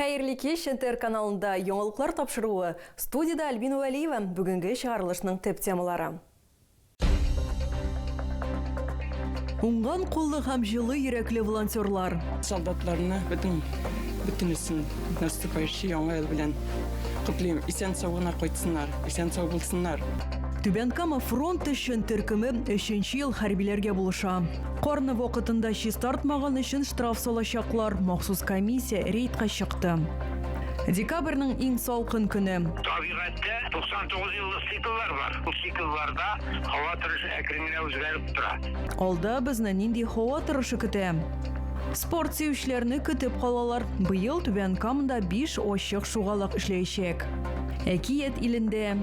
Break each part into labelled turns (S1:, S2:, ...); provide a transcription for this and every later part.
S1: Хәерле кич, НТР каналында яңалыклар тапшыруы, студиядә Альбина Вәлиева, бүгенге чыгарылышның төп темалары. Уңган куллы һәм җылы йөрәкле волонтерлар. Солдатларны
S2: бөтен бөтенесен наступающий яңа ел белән котлыйм. Исән сау гына кайтсыннар, исән сау булсыннар. Түбән Кама
S1: фронт өчен төркеме өченче ел хәрбиләргә булыша. Карны вакытында чистартмаган өчен штраф салачаклар. Махсус комиссия рейдка чыкты. Декабрьнең иң салкын көне. Табигатьтә
S3: 99 еллык цикллар бар. Бу циклларда һава торышы әкрен генә үзгәреп тора. Алда безне нинди
S1: һава торышы көтә? Спорт сөючеләрне көтеп калалар. Быел Түбән Камада биш ачык шугалак эшләячәк. Әкият илендә.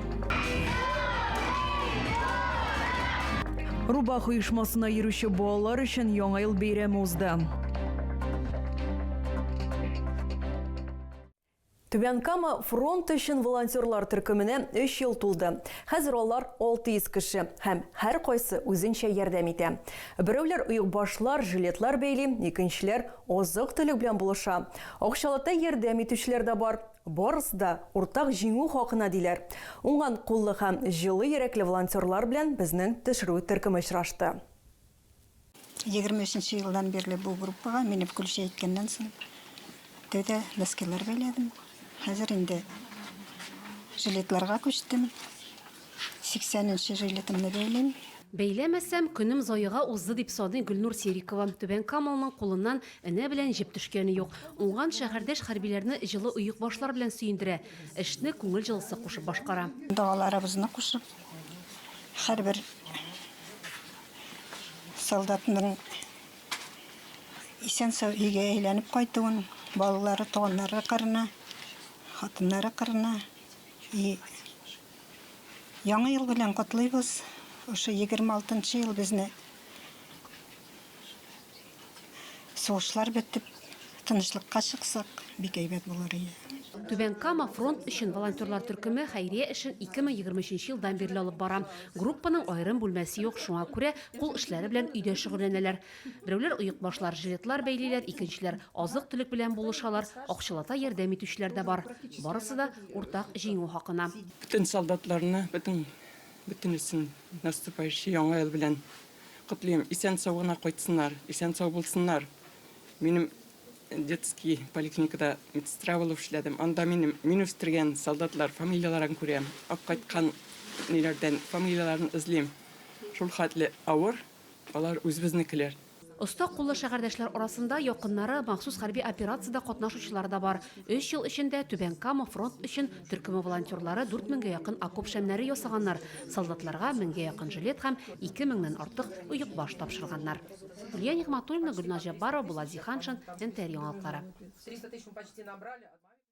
S1: Рубах оешмасына йөрүче балалар өчен Яңа ел бәйрәме узды. Түбән Кама фронт өчен волонтерлар төркеменә 3 ел тулды. Хәзер алар 600 кеше һәм һәр кайсы үзенчә ярдәм итә. Берәүләр оекбашлар, жилетлар бәйли, икенчеләр азык-төлек белән булыша. Акчалата ярдәм итүчеләр дә бар. Барысы да уртак җиңү хакына, диләр. Уңган куллы һәм җылы йөрәкле волонтерлар белән безнең төшерү төркеме очрашты. Егерме
S4: өченче елдан бирле бу группага минем көлчә җиткәннән соң тәүдә носкилар бәйләдем. Хәзер инде жилетларга күчтем. 80 нче жилетымны бәйлим. Бәйләмәсәм,
S5: көнем заега узды, дип саный Гөлнур Серикова. Түбәнкамалның кулыннан энә белән җеп төшкәне юк. Уңган шәһәрдәш хәрбиләрне җылы оекбашлар белән сөендерә, эшне күңел җылысы кушып башкара. Догаларыбызны кушып,
S4: һәрбер солдатның исән-сау өйгә әйләнеп кайтуын, балалары, туганнары кырына, хатыннары кырына и Яңа ел белән котлыйбыз. Ошо 26 нчы ел безне сугышлар бетеп, тынычлыкка чыксак, бик әйбәт булыр иде. Түбән Кама
S5: фронт өчен волонтерлар төркеме хәйрия эшен 2023 елдан бирле алып бара. Группаның аерым бүлмәсе юк, шуңа күрә кул эшләре белән өйдә шөгыльләнәләр. Берәүләр оек башлар, жилетлар бәйлиләр, икенчеләр азык-төлек белән булышалар, акчалата ярдәм итүчеләр дә бар. Барысы да уртак Җиңү хакына. Бөтен солдатларны,
S2: бөтен, бөтенесен наступающий Яңа ел белән котлыйм. Исән-сау гына кайтсыннар, исән-сау булсыннар. Минем детский поликлиникада медсестра булып эшләдем. Анда минем, мин үстергән солдатлар фамилияләрен күрәм. Кайткан ниләрдән фамилияләрен эзлим. Шул хәтле авыр. Алар үзебезнекеләр. Оста куллы
S5: шәһәрдәшләр арасында якыннары, махсус хәрби операциядә катнашучылары да бар. Өч ел эчендә Түбән Кама фронт өчен төркеме волонтерлары дүрт меңгә якын окоп шәмнәре ясаганнар, солдатларга меңгә якын жилет һәм ике меңнән артык оекбаш тапшырганнар. Лилия Нигъмәтуллина, Гөлназ Җәббарова, Булат Зиһаншин, НТР яңалыклары.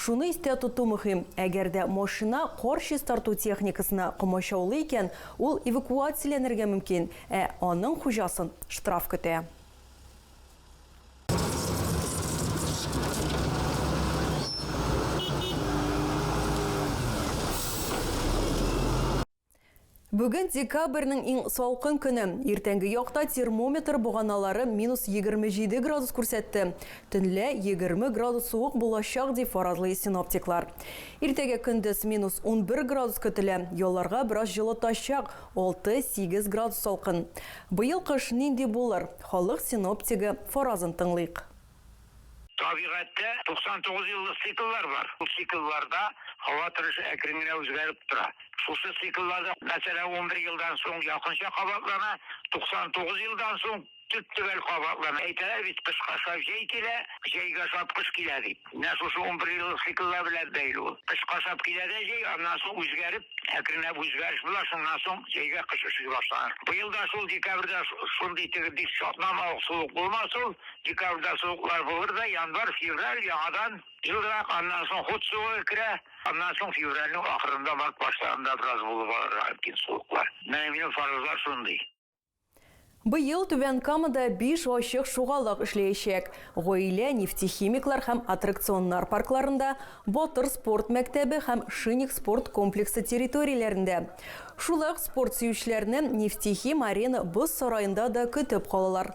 S1: Шуны истә тоту мөһим, әгәр дә машина кар чистарту техникасына комачаулый икән, ул эвакуацияләнергә мөмкин, ә аның хуҗасын штраф көтә. Бүген декабрьнең иң салкын көне. Иртәнге якта термометр боганалары минус егерме җиде градус күрсәтте. Төнлә егерме градус суык булачак, дип фаразлый синоптиклар. Иртәгә көндез минус унбер градус көтелә, ялларга бераз җылытачак, алты-сигез градус салкын. Быел кыш нинди булыр? Халык синоптигы фаразын тыңлыйк.
S3: Табигатьтә 99 еллык цикллар бар. Бу циклларда һава торышы әкрен генә үзгәреп тора. Шушы цикллар да, мәсәлән, унбер елдан соң якынча кабатлана, 99 елдан соң төп-төгәл кабатлана. Әйтәләр бит, кышка ошап җәй килә, җәйгә ошап кыш килә дип. Менә шушы унбер еллык цикллар белән бәйле ул. Кышка ошап килә дә җәй, аннан соң үзгәреп, әкренләп үзгәреш була, шуннан соң җәйгә кыш очрый башлана. Быел да шул декабрьдә шундый теге бик чатнама ук суык булмас ул, Декабрьдә суыклар булыр да, январь, февраль яңадан җылырак, аннан соң хут суыгы керә, аннан соң февральнең ахырында, март башларында бераз булып алырга мөмкин суыклар. Менә минем фаразлар шундый.
S1: Быел Түбән Камада биш ачык шугалык эшләячәк, Гаилә, Нефтехимиклар һәм аттракционнар паркларында, Батыр спорт мәктәбе һәм Шинник спорт комплексы территорияләрендә. Шулай ук спорт сөючеләрне Нефтехим-Арена боз сараенда да көтеп калалар.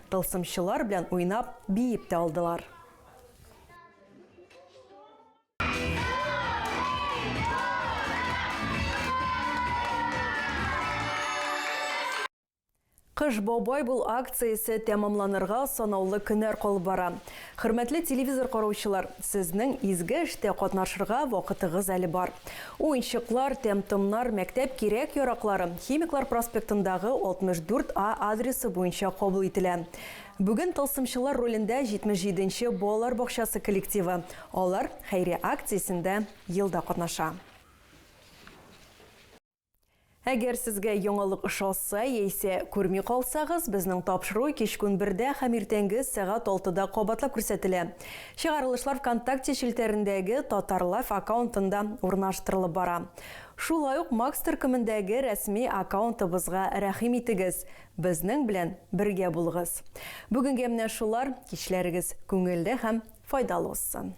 S1: Тылсымчылар белән уйнап, биеп тә алдылар. Кыш бабай бул акциясе тәмамланырга санаулы көннәр калып бара. Хөрмәтле телевизор караучылар, сезнең изге эштә катнашырга вакытыгыз әле бар. Уенчыклар, тәм-томнар, мәктәп кирәк-яраклары Химиклар проспектындагы 64 А адресы буенча кабул ителә. Бүген тылсымчылар ролендә 77 нче балалар бакчасы коллективы, алар хәйрия акциясендә елда катнаша. Әгәр сезгә яңалык ошаса яисә күрми калсагыз, безнең тапшыру кичкүн бердә һәм иртәнге сәгать алтыда кабатлап күрсәтелә. Чыгарылышлар Вконтакте челтәрендәге Татарлайф аккаунтында урнаштырылып бара. Шулай ук Макс төркемендәге рәсми аккаунтыбызга рәхим итегез, безнең белән бергә булыгыз. Бүгенгә менә шулар, кичләрегез күңелле һәм файдалы узсын!